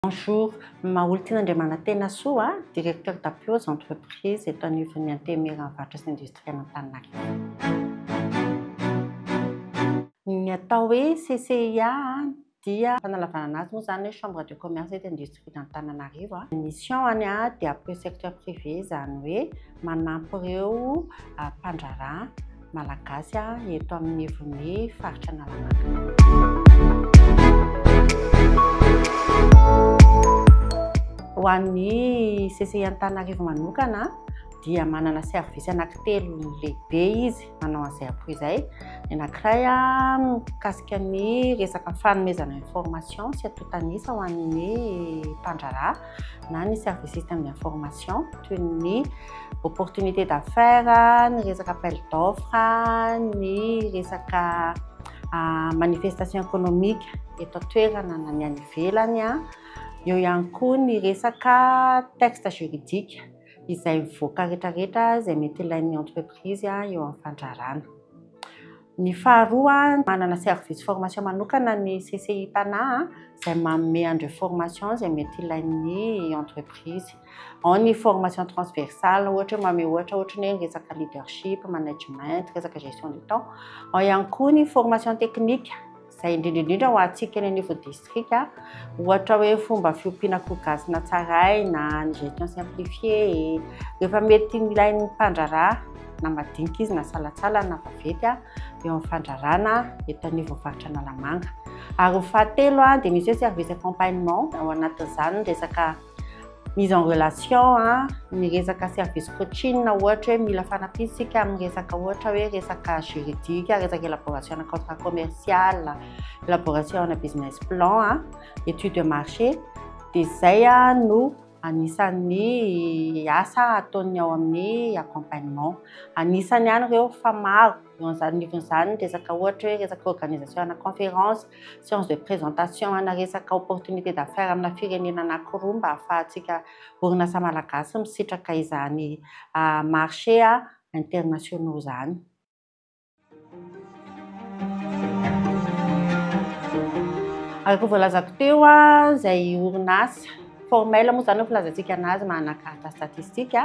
Bonjour, Maholitiana Andriamanantena Soa, Directeur d'appui aux entreprises eto anivon'ny Antenimieran'ny Varotra sy Industriel Antaninarenina. Ny atao hoe CCIA dia fanalavanana azy moa izany hoe chambre de commerce eto industrie d'Antananarivo a. Mission any a dia appuyer secteur privé izany hoe manampy ireo mpandraharaha malagasy a eto amin'ny ivon'ny faritra Analamanga. Ho an'ny CCI Antananarivo manokana dia manana service anaky telo lehibe izy. manao an'izay akory izay. Ny anankiray mikasika ny resaka fanomezana information sy atotanisa ho an'ny mpandraharaha na ny serviciste amin'ny information toy ny opportunité d'affaires, ny resaka appel d'offre, ny resaka ah, manifestation économique eto an-toerana na ny any ivelany, eo ihany koa ny resaka texte juridique. izay mivoaka rehetra rehetra izay mety ilain'ny entreprise eo amin'ny fandrarana. Ny faharoa, manana service formation manokana ny CCI Tana izay manome an'ireo formation izay mety ilain'ny entreprise. Ao ny formation transversale, ohatra hoe manome ohatra ohatry ny hoe resaka leadership, management, resaka gestion du temps. Ao ihany koa ny formation technique. izay indrindra indrindra ho antsika eny anivon'ny distrika, ohatra hoe fomba fiompiana akoho gasy natsaraina, ny gestion simplifiée, rehefa mety milain'ny mpandraharaha na madinika izy na salantsala na vaventy eo amin'ny fandraharana eto anivon'ny faritra Analamanga. Ary ho fahatelo dia misy hoe service accompagnement, ao anatin'izany ny resaka mise en relation a, ny resaka service coaching ohatra hoe mila fanampiana isika amin'ny resaka ohatra hoe resaka juridique, resaka élaboration na contrat commercial, élaboration na business plan a, étude de marché dia izay a no anisan'ny asa ataon'ny ao amin'ny accompagnement. Anisany ihany ireo fa maro, eo an'izany nivon'izany resaka ohatra hoe resaka organisation na conférence, Séance de présentation ana resaka opportunité d'affaires amina firenena anakiroa mba ahafahantsika orinasa malagasy misitraka izany marché internationaux izany. Araka ny voalazako teo izay orinasa formel moa izany no filazantsika anazy manana carte statistique.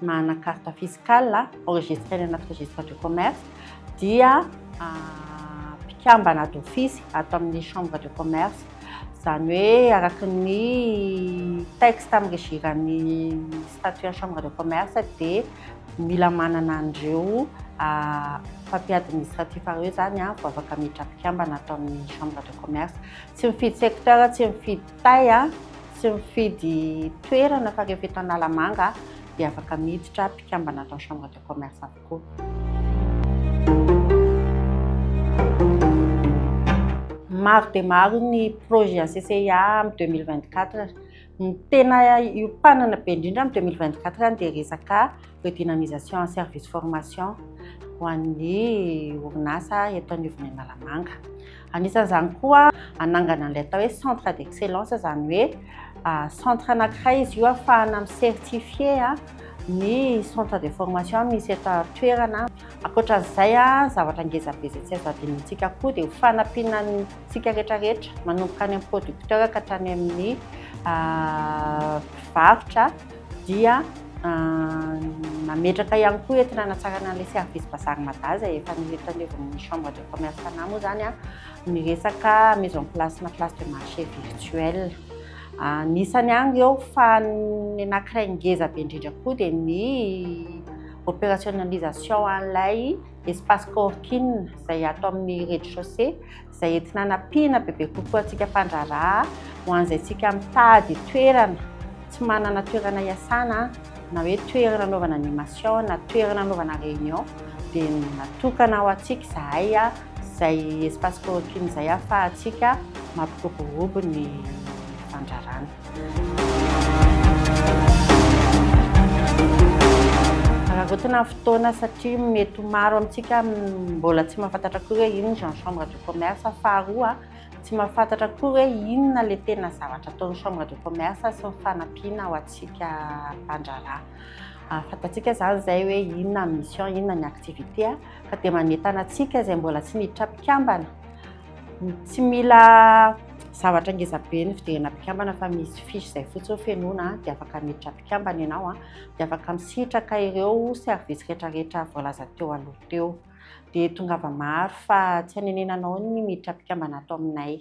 Manana carte fiscale enregistrée any anaty registre du commerce dia mpikambana d'office ato amin'ny chambre de commerce. Izany hoe araka ny texte amin'ny regiran'ny statut an'ny chambre de commerce dia mila manana an'ireo papier administratif ireo izany vao afaka miditra mpikambana ato amin'ny chambre de commerce. Tsy mifidy secteur, tsy mifidy Tay a, tsy mifidy toerana fa rehefa eto Analamanga dia afaka miditra mpikambana ato amin'ny Chambre de Commerce avokoa. maro dia maro ny projet à CCIA am 2024. Ny tena iopanana be indrindra am 2024 dia resaka redynamisation en service formation ho an'ny orinasa eto anivon'ny Analamanga. Anisan'izany koa hanangana an'ilay atao hoe centre d'excellence, izany hoe centre anankiray izy io afahana mi-certifié ny centre de formation misy eto an-toerana. Ankoatra an'izay, zavatra ngeza be izay tsy azo adinontsika koa dia ho fanampiana antsika rehetrarehetra manomboka any amin'ny producteur ka hatrany amin'ny mpivarotra. dia nametraka ihany koa eto nanatsarana ilay service bazary mada izay efa notaleovan'ny chambre de commerce fanahy moa izany a ny resaka mise en place na place de marché virtuel anisany any ireo fa ny anankiray ngeza be indrindra koa dia ny opérationnalisation an'ilay espace coworking izay ato amin'ny rez-de-chaussée izay entina hanampiana bebe kokoa antsika mpandraharaha ho an'izay tsika mitady toerana tsy manana toerana hiasana na hoe toerana anaovana animation na toerana anaovana réunion dia natokana ho antsika izahay izay espace coworking izay ahafahantsika mampiroborobo ny fandrarana. Arotina fotoana satria mety ho maro amintsika mbola tsy mahafantatra koa hoe inona izany chambre de commerce. Faharoa, tsy mahafantatra koa hoe inona ilay tena zavatra ataon'ny chambre de commerce sy ny fanampiana ho antsika mpandraharaha. Fantatsika izany izay hoe inona ny mission, inona ny activité fa dia manentana antsika izay mbola tsy miditra mpikambana Tsy mila zavatra ngeza be ny fidirana mpikambana fa misy fiche izay fotsiny hoe fenoina dia afaka miditra mpikambana ianao dia afaka misitraka ireo service rehetrarehetra voalaza teo aloha teo. Dia tongava maro fa tsy hanenenanao ny miditra mpikambana ato aminay.